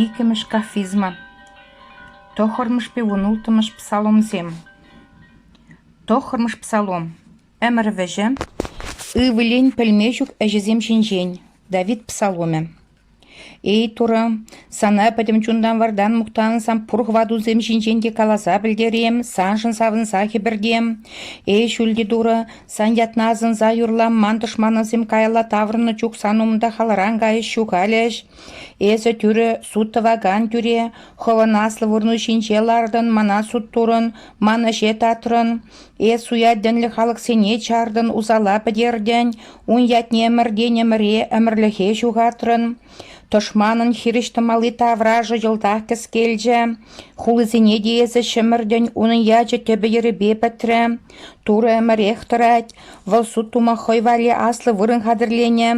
Иккӗмӗш кафизма, тӑххӑрмӗш пиун улттӑмӗш псаломсем. Тӑххӑрмӗш псалом ӗмӗр вӗҫӗ ывӑлӗн пӗлме ҫук ӗҫӗсем ҫинчен Давид псаломӗ. «Эй Турӑ, сана пӗтӗм чунтан вартан мухтансан пур хӑватусем ҫинчен те каласа пӗлтерем, саншӑн савӑнса хӗпӗртем. Эй ҫӳлти Турӑ, Сан ятна асӑнса юрлам, тӑшманӑсем каялла таврӑннӑ чух сан умта халран кайӗҫ ҫухалӗҫ. Эсӗ тӳрӗ суд тӑвакан тӳре, хӑвӑн аслӑ вырну ҫинче лартӑн, мана суд турӑн, ман ӗҫе татрӑн. Эс суятӗнлӗ халӑхсене чартӑн, усала пӗтертӗн, ун ятне ӗмӗртен-ӗмӗре ӗмӗрлӗхе ҫухатрӑн. Тӑшманӑн хирӗҫ тӑмалли таврашӗ йӑлтах кӗскелчӗ. Хулисене те эсӗ ҫӗмӗртӗн, унӑн ячӗ тӗпӗ-йӗрӗпе пӗтрӗ. Турӑ ӗмӗрех тӑрать, вӑл суд тума хӑй валли аслӑ вырӑн хатӗрленӗ,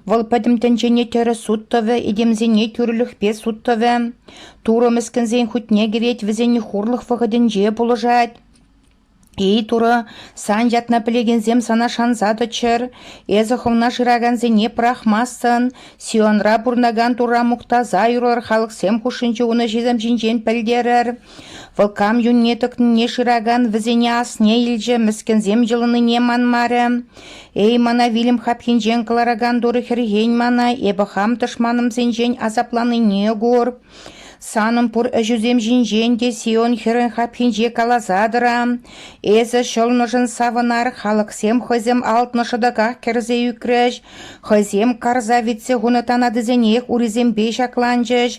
вӑл пӗтӗм тӗнчене тӗрӗс суд тӑвӗ, этемсене тӳрӗлӗхпе суд тӑвӗ. Турӑ мӗскӗнсен хутне кӗрет, вӗсен хурлӑх вӑхӑтӗнче пулӑшать. Эй Турӑ, сан ятна пӗлекенсем сана шанса тӑччӑр, эсӗ хӑвна шыракансене пӑрахмастӑн, Сионра пурӑнакан Турра мухтаса юрлӑр, халӑхсем хушшинче ун ӗҫӗсем ҫинчен пӗлтерӗр. Вӑл кам юнне тӑкнине шыракан вӗсене асне илчӗ, мӗскӗнсем йӑлӑннине манмарӗ. «Эй, мана вилӗм хапхинчен кӑларакан турӑ хӗрхен мана, эпӗ хам тӑшманӑмсенчен асапланнине кур. Санӑн пур ӗҫӳсем ҫинчен те Сион хӗрӗн хапхинче каласа тӑра. Эсӗ ҫӑлнӑшӑн савӑнар, халӑхсем хӑйсем алтнӑ шӑтӑках кӗрсе ӳкрӗҫ, хӑйсем карса витсе хунӑ танатисенех урисемпе ҫакланчӗҫ,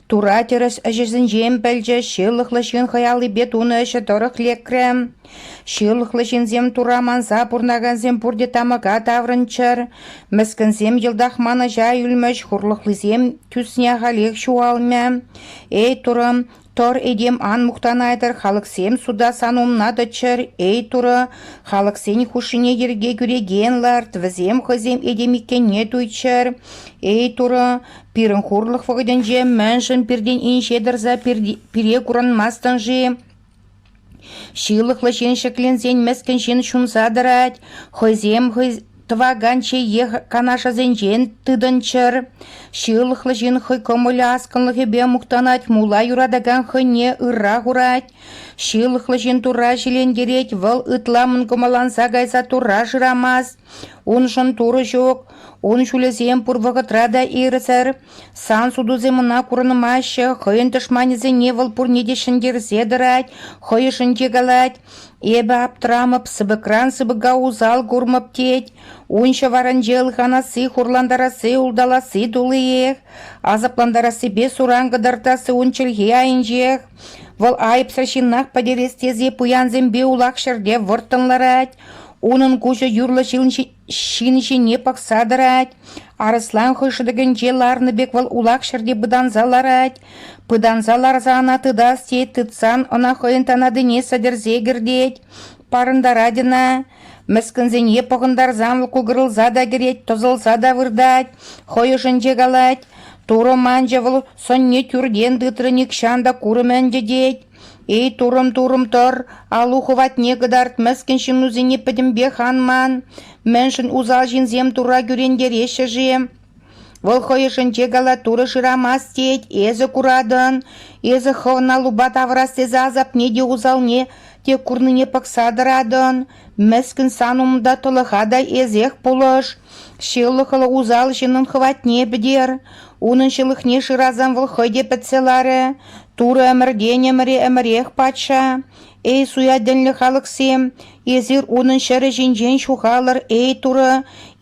Тура тӗрӗс ӗҫӗсенчен пӗлчӗ, ҫылӑхлӑ ҫын хӑй аллипе тунӑ ӗҫӗ тӑрӑх лекрӗ. Ҫылӑхлӑ ҫынсем тура манса пурӑнакансем пурте тамӑка таврӑнччӑр. Мӗскӗнсем йӑлтах манӑҫа ӳлмӗҫ, хурлӑхлисем тӳсне ахалех ҫухалмӗ. Эй, турӑ, тӑр этем ан мухтанайтӑр, халӑхсем суда сан умна тӑччӑр. Эй, турӑ, халӑхсен хушшине йӗрке кӳрекен ларт, вӗсем хӑйсем этем иккенне туйччӑр. Эй, турӑ, Пирӗн хурлӑх вӑхӑтӗнче мӗншӗн пиртен инҫе тӑрса пире курӑнмастӑн-ши? Ҫылӑхлӑ ҫын ҫӗкленсен мӗскӗн ҫын ҫунса тӑрать, хӑйсем хӑй тӑвакан чейех канашӗсенчен тытӑнччӑр. Ҫылӑхлӑ ҫын хӑй кӑмӑлӗ аскӑнлӑхӗпе мухтанать, мула юратакан хӑйне ырра хурать. Ҫылӑхлӑ ҫын Турра ҫилентерет, вӑл ытла мӑнкӑмӑлланса кайса Турра шырамасть. Уншӑн Турӑ ҫук, ун ҫулӗсем пур вӑхӑтра та ирсӗр. Сан сутусем ӑна курӑнмаҫҫӗ, хӑйӗн тӑшманӗсене вӑл пурне те ҫӗнтерсе тӑрать, хӑйӑшӗнче калать: «Эпӗ аптӑрамӑп, сыпӑкран сыпӑка усал курмӑп», тет. Ун ҫӑварӗнче ылханасси, хурлантарасси, улталасси туллиех. Асаплантарассипе суран кӑтартасси ун чӗлхи айӗнчех. Вӑл айӑпсӑр ҫыннах пӗтерес тесе пуянсемпе улах ҫӗрте вӑрттӑн ларать. Унӑн куҫӗ юрлӑ ҫын ҫине пӑхса тӑрать. Арӑслан хӑй шӑтӑкӗнче ларнӑ пек вӑл улах ҫӗрте пытанса ларать. Пытанса ларса ӑна тытас тет, тытсан ӑна хӑйӗн танатине сӗтӗрсе кӗртет. Парӑнтарать ӑна. Мӗскӗнсене пӑхӑнтарсан вӑл кукӑрӑлса та кӗрет, тӑсӑлса та выртать, хӑй ӑшӗнче калать, «Турӑ манчӗ, вӑл сӑнне тӳртен тытрӗ, нихҫан та курӑм ӗнтӗ», тет. Эй, турӑм-турӑм тӑр, алу хӑватне кӑтарт, мӗскӗн ҫыннусене пӗтӗмпех ан ман. Мӗншӗн усал ҫынсем Турра кӳрентереҫҫӗ-ши? Вӑл хӑй ӑшӗнче калатура шырамасть тет, эсӗ куратӑн. Эсӗ хӑвна лупа тавӑрас тесе асапне те усалне те курнине пӑхса тӑратӑн. Мӗскӗн сан умта тӑлӑха та эсех пулӑш, ҫылӑхлӑ усал ҫыннӑн хӑватне пӗтер. Унӑн ҫылӑхне шырасан вӑл хӑй те пӗтсе ларӗ. Турӑ ӗмӗртен ӗмӗре ӗмӗрех патша. Эй, суятӗнлӗ халӑхсем, эсир унӑн ҫӗрӗ ҫинчен ҫухалӑр, эй, Турӑ!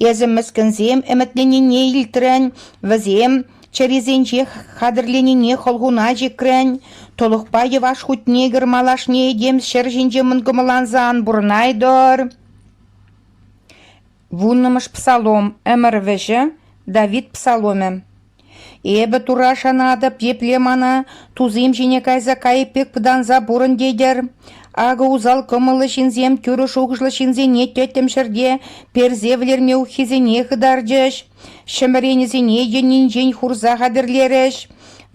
Эсӗ мӗскӗнсем ӗмӗтленнине илтрӗн, вӗсем Чӗрисенчех хатӗрленине хӑлхуна чикрӗн, тӑлӑхпа йӑваш хутне кӗр малашне этем ҫӗр ҫинче мӑнкӑмӑланса ан пурӑнайтӑр. Вуннӑмӗш псалом ӗмӗр вӗҫӗ Давид псаломӗ. Эпӗ Тура шанатӑп, епле мана тусем ҫине кайса кайӑк пек пытанса пурӑн тетӗр. Акӑ усал кӑмӑллӑ ҫынсем тӳрӗ шухӑшлӑ ҫынсене тӗттӗм ҫӗрте персе вӗлерме уххисене хытарчӗҫ. Ҫӗмӗренӗсене йӗннинчен хурса хатӗрлерӗҫ.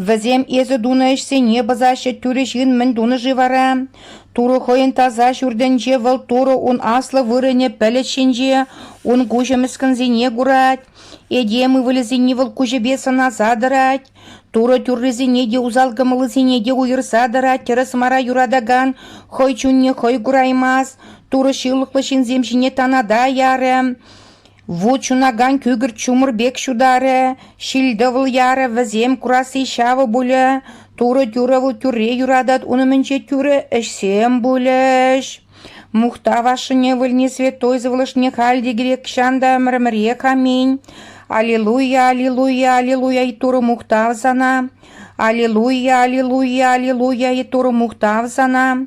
Вӗсем эсӗ тунӑ ӗҫсене пӑсаҫҫӗ, тӳрӗ ҫын мӗн тунӑ-ши вара? Турӑ хӑйӗн таса ҫуртӗнче вӑл Турӑ ун аслӑ вырӑнӗ пӗлӗт ҫинче ун куҫӗ мӗскӗнсене курать. Этем ывӑлӗсене вӑл куҫӗпе сӑнаса тӑрать. Турӑ тӳррисене те усал кӑмӑллисене те уйӑрса тӑрать, тӗрӗс мара юратакан хӑй чунне хӑй кураймасть. Турӑ ҫылӑхлӑ ҫынсем ҫине таната ярӗ. Ву чунакан кӳкӗрт ҫумӑр пек ҫутарӗ, ҫил-тӑвӑл ярӗ, вӗсем курасси ҫавӑ пулӗ. Турӑ-тӳрӗ вӑл тӳрре юратать, ун умӗнче тӳрӗ ӗҫсем пулӗҫ. Мухтав ашшӗне вӗлни святой сывлӑшне халь те кирек чан та ӗмӗр-ӗмӗрех аминь. Аллилуйя, аллилуйя, аллилуйя и Турӑ мухтав сана. Аллилуйя, аллилуйя, аллилуйя и Турӑ мухтав сана.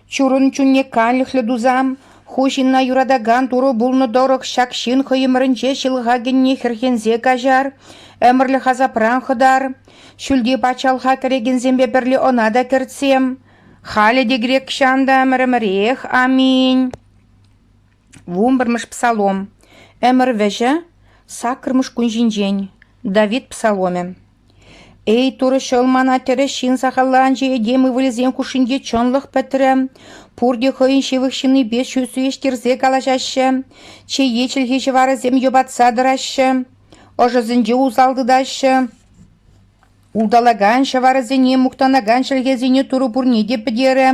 Чурун чунне канлӗхлӗ тусан ху ҫынна юратакан турӑ пулнӑ тӑрӑх ҫак ҫын хӑйӗмӗрӗнче ҫылӑхакӗнне хӗрхенсе каҫар, ӗмӗрлӗх асапран хӑтар. Ҫӳлти патшалӑха кӗрекенсемпе пӗрле ӑна та кӗртсе. Халӗ те грек ҫан та ӗмӗр-ӗмӗрех. Аминь. Вунпӗрмӗш псалом. Ӗмӗр вӗҫӗ, саккӑрмӗш кун ҫинчен. Давид псаломӗ. Эй, Турӑ Ҫӑл, мана тӗрӗс ҫын сахалланчӗ этем ывӑлӗсен хушшинче чӑнлӑх пӗтрӗ. Пурте хӑйӗн ҫывӑх ҫыннипе ҫӳҫ виҫтерсе калаҫаҫҫӗ, чее чӗлхи ҫӑварӗсем йӑпатса тӑраҫҫӗ, ӑшӑсенче усал тытаҫҫӗ. Улталакан ҫӑварӗсене, мухтанакан чӗлхесене Турӑ пурне те пӗтерӗ.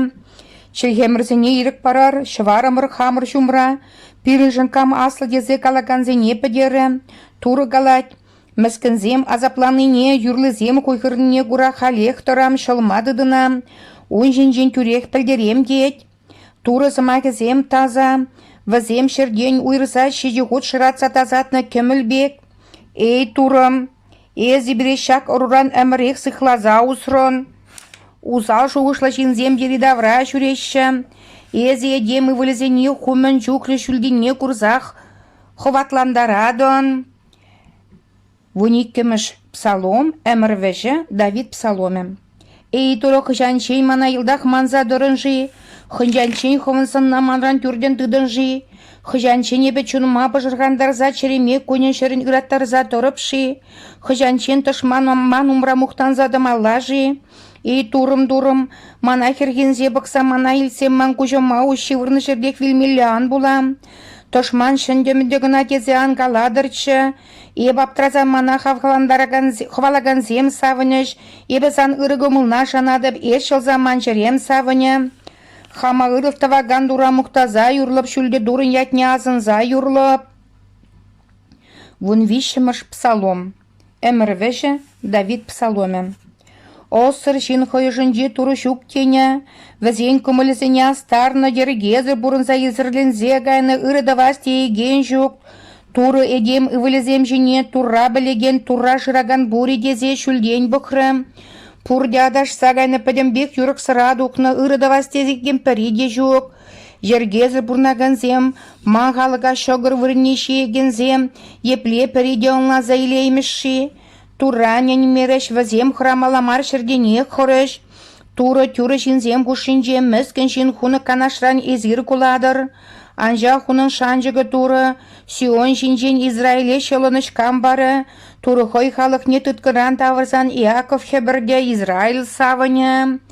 Чӗлхемӗрсене ирӗк парар, ҫӑварӑмӑр хамӑр ҫумра, пирӗншӗн кам аслӑ тесе калакансене пӗтерӗ. Турӑ калать, Мӗскӗнсем асапланнине, юрлисем хуйхӑрнине кура халех тӑрам ҫӑлма тытӑнам, ун ҫинчен тӳрех пӗлтерем тет. Турӑ сӑмахӗсем таса, вӗсем ҫӗртен уйрса ҫичӗ хут шӑратса тасатнӑ кӗмӗл пек. «Эй, Турӑм, эсӗ пире ҫак ӑруран ӗмӗрех сыхласа усрӑн. Усал шухӑшлӑ ҫынсем йӗри-тавра ҫӳреҫҫӗ. Эсӗ этем ывӑлӗсене ху мӗн чухлӗ ҫӳлтенне курсах хӑватлантаратӑн. Вун иккӗмӗш псалом ӗмӗр вӗҫӗ Давид псаломӗ. «Эй, Турӑ, хӑҫанччен мана йӑлтах манса тӑрӑн-ши? Хӑҫанччен хӑвӑн сӑнна манран тӳртӗн тытӑн-ши? Хӑҫанччен эпӗ чунӑма пӑшӑрхантарса чӗреме кунӗн-ҫӗрӗн ыраттарса тӑрӑп-ши? Хӑҫанччен тӑшман ман умра мухтанса тӑмалла-ши? Эй, Турӑм, Турӑм, мана хӗрхенсе пӑхса мана илтсе ман куҫӑма уҫ ҫывӑрнӑ ҫӗртех вилмелле ан пула. Тӑшман ҫӗнтӗмӗтӗ кӑна тесе ан калатӑрччӗ. Эп аптраса мана хавхалантаракансем савӑнӗҫ. Эпӗ сан ырӑ кӑмӑлна шанатӑп, эс ҫӑлса ман чӗрем савӑнӗ. Хама ырӑх тӑвакан тура мухтаса юрлӑп, ҫӳлте турӑн ятне асӑнса юрлӑп. Вун виҫҫӗмӗш псалом Ӗмӗр вӗҫӗ – Давид псаломӗ. Ӑссӑр ҫын хӑй ӑшӗнче Турӑ ҫук тенӗ, вӗсен кӑмӑлӗсене астарнӑ, йӗркесӗр пурӑнса исӗрленсе кайнӑ, ырӑ тӑвас теекен ҫук. Турӑ этем ывӑлӗсем ҫине Турра пӗлекен Турра шыракан пур-и тесе ҫӳлтен пӑхрӗ. Пурте аташса кайнӑ пӗтӗмпех юрӑхсӑра тухнӑ, ырӑ тӑвас тесекен пӗри те ҫук. Йӗркесӗр пурӑнакансем, ман халӑха ҫӑкӑр вырӑнне ҫиекенсем епле пӗр идеалланса илеймӗҫ-ши? Турра ӗненмерӗҫ вӗсем хӑрамалла мар ҫӗртенех хӑрӗҫ. Турӑ тӳрӗ ҫынсем хушшинче мӗскӗн ҫын хунӑ канашран эсир кулатӑр. Анчах унӑн шанчӑкӗ Турӑ Сион ҫинчен Израиле ҫӑлӑнӑҫ кам парӗ? Турӑ хӑй халӑхне тыткӑнран тавӑрсан Иаков хӗпӗртӗ, Израиль савӑнӗ.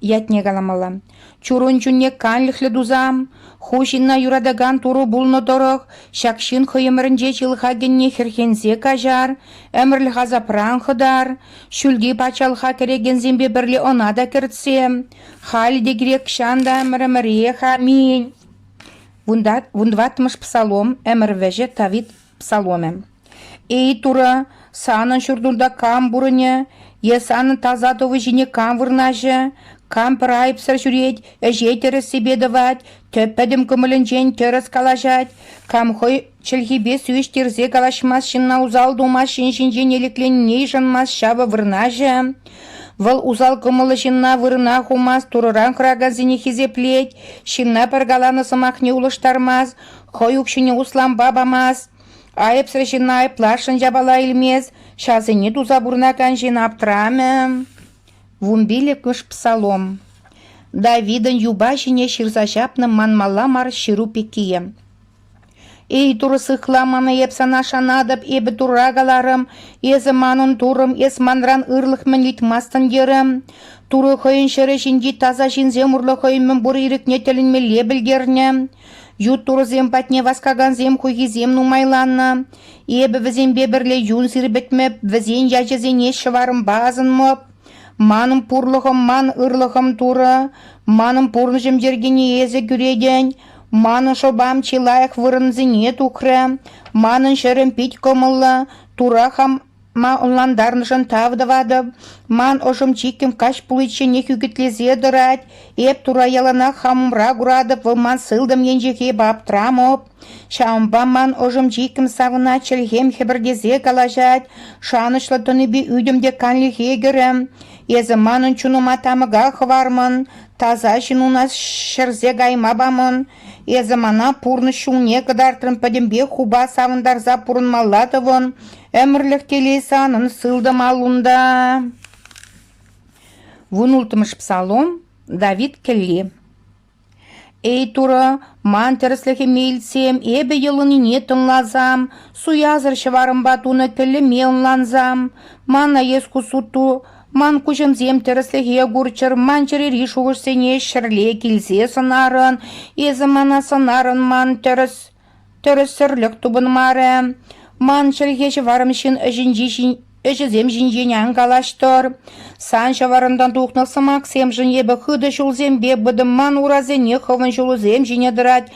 Ятне каламалла. Чурун чунне канлӗхлӗ тусан, ху ҫынна юратакан Турӑ пулнӑ тӑрӑх, ҫак ҫын хӑй ӗмӗрӗнче ҫылӑхакенне хӗрхенсе каҫар, ӗмӗрлӗх асапран хӑтар, ҫӳлти патшалӑха кӗрекенсемпе пӗрле ӑна та кӗртсе, халӗ те кирек ҫан та ӗмӗр-ӗмӗрех аминь. Вун тӑваттӑмӗш псалом, ӗмӗр вӗҫӗ Тавит Псаломӗ. «Эй, Турӑ, санӑн ҫуртунта кам пурӑнӗ е санӑн таса тӑвӗ ҫине кам вырнаҫӗ? Кам пӗр айӑпсӑр ҫӳрет, ӗҫе тӗрӗссипе тӑвать, тӗп пӗтӗм кӑмӑлӗнчен тӗрӗс калаҫать, кам хӑй чӗлхипе сивӗҫтерсе калаҫмасть ҫынна усал тумасть, ҫын ҫинчен элекленине йышӑнмасть, ҫавӑ вырнаҫӗ. Вӑл усал кӑмӑллӑ ҫынна вырӑна хумасть, Турӑран хӑракансене хисеплет, ҫынна пӗр каланӑ сӑмахне улӑштармасть, Хӑй укҫине услампа памасть, айӑпсӑр ҫынна айӑпласшӑн япала илмест, ҫасене туса пурӑнакан ҫын аптрамӗ. Вун пиллӗкмӗш псалом Давидӑн юпа ҫине ҫырса ҫапнӑ манмалла мар ҫыру пеккие. Эй Турӑ сыхла мана эп сана шанатӑп, эпӗ Турра каларӑм, эсӗ манӑн Турӑм, эс манран ырлӑх мӗн ыйтмастӑн терӗм. Турӑ хӑйӗн ҫӗрӗ ҫинчи таса ҫынсем урлӑ хӑй мӗн пур ирӗкне тӗлӗнмелле пӗлтернӗ. Ют турӑсем патне васкакансем хуйхисем нумайланнӑ. Эпӗ вӗсемпе пӗрле юн сирпӗтмӗп, вӗсен ячӗсене ҫӑварӑмпа асӑнмӑп. Манӑн пурлӑхӑм ман ырлӑхӑм турӑ, манӑн пурнӑҫӑм йӗркине эсӗ кӳретӗн, манӑн шӑпам чи лайӑх вырӑнсене тухрӗ, манӑн ҫӗрӗм пит кӑмӑллӑ, тура хам Ма ӑнлантарнӑшӑн тав тӑватӑп. Ман ӑшӑм чиккӗм каҫ пуличченех ӳкӗтлесе тӑрать. Эп тура яланах хамӑмра куратӑп, вӑл ман сылтӑм енчехи эпӗ аптрамӑп. Ҫавӑнпа ман ӑшӑм чиккӗм савӑнать, чӗлхем хӗпӗртесе калаҫать, шанӑҫлӑ тӑнипе ӳтӗм те канлӗхе кӗрӗ. Эсӗ манӑн чунӑма тамӑка хӑвармӑн, таса ҫынуна ҫӗрсе кайма памӑн. Эсӗ мана пурнӑҫ ҫулне кӑтартрӑн пӗтӗмпех хупа савӑнтарса пурӑнмалла тӑвӑн, ӗмӗрлӗх телей санӑн сылтӑм аллунта. Вун улттӑмӗш псалом Давид кӗлли Эй Турӑ, ман тӗрӗслӗхӗме илтсем, эпӗ йӑлӑннине тӑнласам, суясӑр ҫӑварӑмпа тунӑ тӗллӗме ӑнлансам. Мана эс ку суту Ман куҫӑмсем тӗрӗслӗхе курччӑр, ман чӗрери шухӑшсене ҫӗрле килсе сӑнарӑн. Эсӗ мана сӑнарӑн ман тӗрӗс тӗрӗссӗрлӗх тупӑнмарӗ. Ман чӗлхе-ҫӑварӑм ҫын ӗҫӗнчи ҫин- ӗҫӗсем ҫинчен ан калаҫтӑр. Сан ҫӑварӑнтан тухнӑ сӑмахсемшӗн эпӗ хытӑ ҫулсемпе пытӑм. Ман урасене хӑвӑн ҫулусем ҫине тӑрать.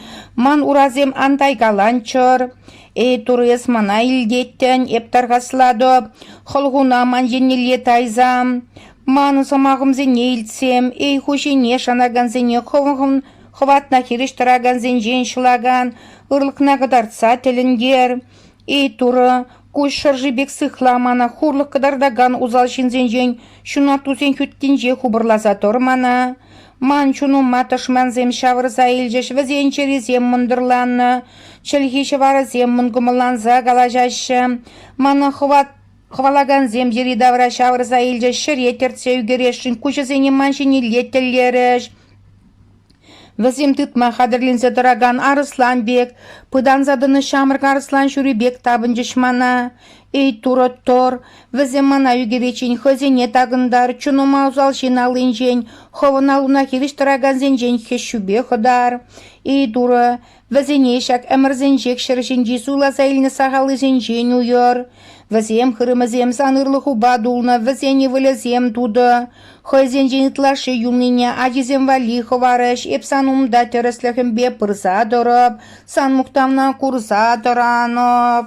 Ман урасем ан тайкаланччӑр. Эй, Турӑ, эс мана илтеттӗн, эп тархаслатӑп, хӑлхуна ман еннелле тайсам. Ман сӑмахӑмсене илтсем, эй, хуҫине шанакансене хӑвӑн хӑватна хирӗҫ тӑракансенчен ҫӑлакан ырлӑхна кӑтартса тӗлӗнтер. Эй, Турӑ, куҫ шӑрши пек сыхла мана хурлӑх кӑтартакан усал ҫынсенчен ҫунаттусен хӳттинче хупӑрласа тӑр мана. Ман чунума тӑшмансем ҫавӑрса илчӗҫ, вӗсен чӗрисем мӑнтӑрланнӑ, чӗлхи-ҫӑварӗсем мӑнкӑмӑлланса калаҫаҫҫӗ. Мана хӑвалакансем йӗри-тавра ҫавӑрса илчӗҫ, ҫӗре тӗртсе ӳкересшӗн куҫӗсене ман ҫинелле тӗллерӗҫ. Вӗсем тытма хатӗрленсе тӑракан арӑслан пек, пытанса тӑнӑ ҫамрӑк арӑслан ҫури пек тапӑнчӗҫ мана. Эй, Турӑ Тор, вӗсем мана ӳкӗвеччен хӑйсене такӑнтар, чунӑма усал ҫын аллинчен, хӑвӑн аллуна хирӗҫ тӑракансенчен хӗҫҫӳпе хӑтар. Эй, Турӑ, вӗсене ҫак ӗмӗрсенчех ҫӗр ҫинчи суйласа илнӗ сахаллисенчен уйӑр. Вӗсем хырӑмӗсем сан ырлӑхупа тулнӑ, вӗсен ывӑлӗсем тутӑ. Хӑйсенчен ытлашши юлнине ачисем валли хӑварӗҫ. Эп сан умта тӗрӗслӗхӗмпе пырса тӑрӑп, сан мухтавна курса тӑранӑп.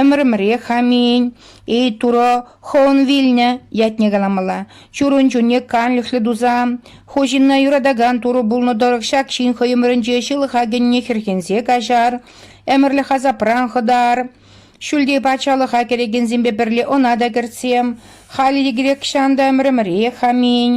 Ӗмӗрӗмре Хамин, эй Турӑ, хӑвӑн вилнӗ ятне каламалла. Чурун чунне канлӗхлӗ тусан, ху ҫынна юратакан Турӑ пулнӑ тӑрӑх ҫак ҫын хӑйӑмринче ҫылӑха кӗнине хӗрхенсе каҫар, ӗмӗрлӗх асапран хӑтар. Ҫӳлте патшалӑха кӗрекенсемпе пӗрле ӑна та кӗртсем. Халӗ те грекҫан та ӗмӗрӗмре Хамин.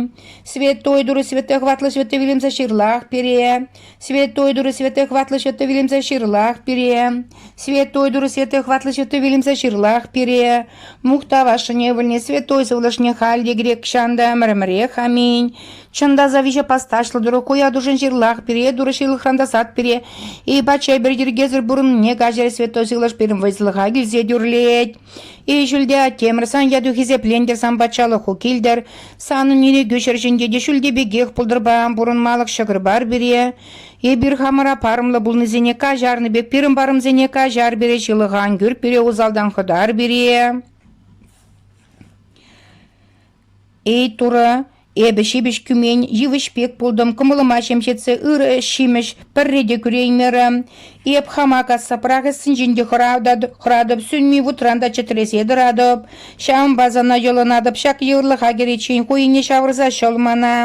Святой Турӑ святой хӑватлӑ святой вилӗмсӗр ҫырлах пире. Святой Дух Святой хватлӑ Ҫыту вилӗмсӗр ҫырлах пире. Святой Дух Святой хватлӑ Ҫыту вилӗмсӗр ҫырлах пире. Мухтав ашшӗне вӗлне Святой сывлӑшне халь те грек ҫанта ӗмӗрӗмӗрех. Аминь. Чӑн та завиҫе пасташлӑ Турӑ куя тушин ҫырлах пире, Турӑ ҫылӑхран тасат пире, и пачай пӗр йӗркесӗр пурӑннине каҫӑр Святой Сывлӑш пирӗн вӑйсӑлӑха килсе тӳрлет. Эй ҫӳлте, темӗр сан яту хисеплентӗр сан патшалӑху килтӗр, санӑн ирӗкӳ ҫӗрҫинче те ҫӳлте пекех пултӑрпа пурӑнмалӑх ҫӑкӑр бар пире. Эпир хамӑра парӑмлӑ пулнисене каҫарнӑ пек пирӗн парӑмсене каҫар пире, ҫылӑх ан кӳр пире, усалтан хӑтар пире. Эй, Турӑ, эпӗ ҫепӗҫ кӳмен йывӑҫ пек пултӑм, кӑмӑлӑма ҫемҫетсе ырӑ ҫимӗҫ пӗрре те кӳреймерӗм. Эп хама касса пӑрахӑссинчен те хӑратӑп, сӳнми вутран та чӗтресе тӑратӑп. Ҫавӑнпа сана йӑлӑнатӑп ҫак йывӑрлӑха кӗриччен ху ине ҫавӑрса ҫӑл мана.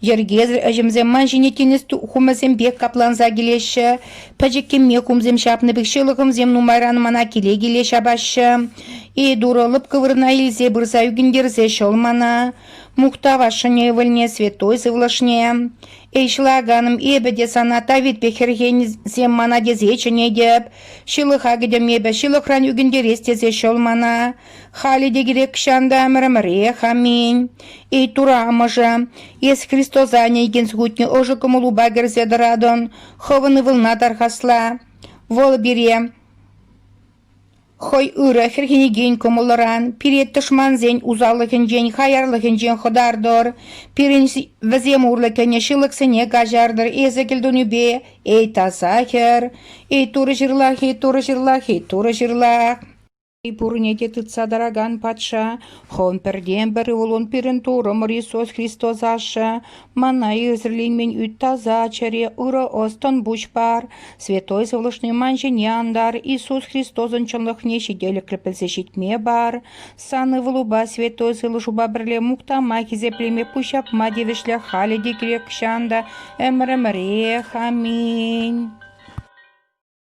Йӗркесӗр ӗҫӗмсем ман ҫине тинӗс хумӗсемпе капланса килеҫҫӗ. Пӗчӗк кӗмме кумсем ҫапнӑ пек ҫылӑхӑмсем нумайран мана киле-киле ҫапаҫҫӗ. Ейдура лӑпкӑ вырӑна илсе пырса ӳкӗнтерсе ҫӑл мана. Мухтав ашшӗне ывӑлне, святой сывлӑшне. Эй, ҫӑлаканӑм, эпӗ те сана Давид пек хӗрхенсем мана тесе чӗнетӗп. Ҫылӑха кӗтӗм эпӗ, ҫылӑхран ӳкӗнтерес тесе ҫӑл мана. Халӗ те кирек ҫан та ӗмӗр-ӗмӗрех. Аминь. Эй, Тура амӑшӗ, эс Христоса ӗне икен сухутне ӑшӑ кӑмӑлупа кӗрсе тӑратӑн, хӑвӑн ывӑлна тархасла. Вӑл пире хӑй ырӑ хӗрхенекен кӑмӑллӑран, пире тӑшмансен усаллӑхӗнчен, хаярлӑхӗнчен хӑтартӑр. Пирӗн вӗсем урлӑ кӗнӗ ҫылӑхсене каҫартӑр. Эсӗ кӗлтунӳпе, эй, таса хӗр, эй, турӑ ҫырлах, эй, турӑ ҫырлах, эй, турӑ ҫырлах. Пурне те тытса тӑракан патша, хӑн пӗртен-пӗр ывӑлӑн пирӗн Турӑмӑр Иисус Христос Ашшӗ, мана ӳсӗрленмен ӳт таса чӗре, ырӑ ӑс-тӑн пуҫ пар, святой сывлӑшне ман ҫине антар, Иисус Христосӑн чӑнлӑхне ҫителӗклӗ пӗлсе ҫитме пар, сан ывӑлупа святой сывлӑшупа пӗрле мухтама, хисеплеме, пуҫҫапма тивӗҫлӗ халӗ те кирек ҫан та ӗмӗр-ӗмӗрех. Аминь.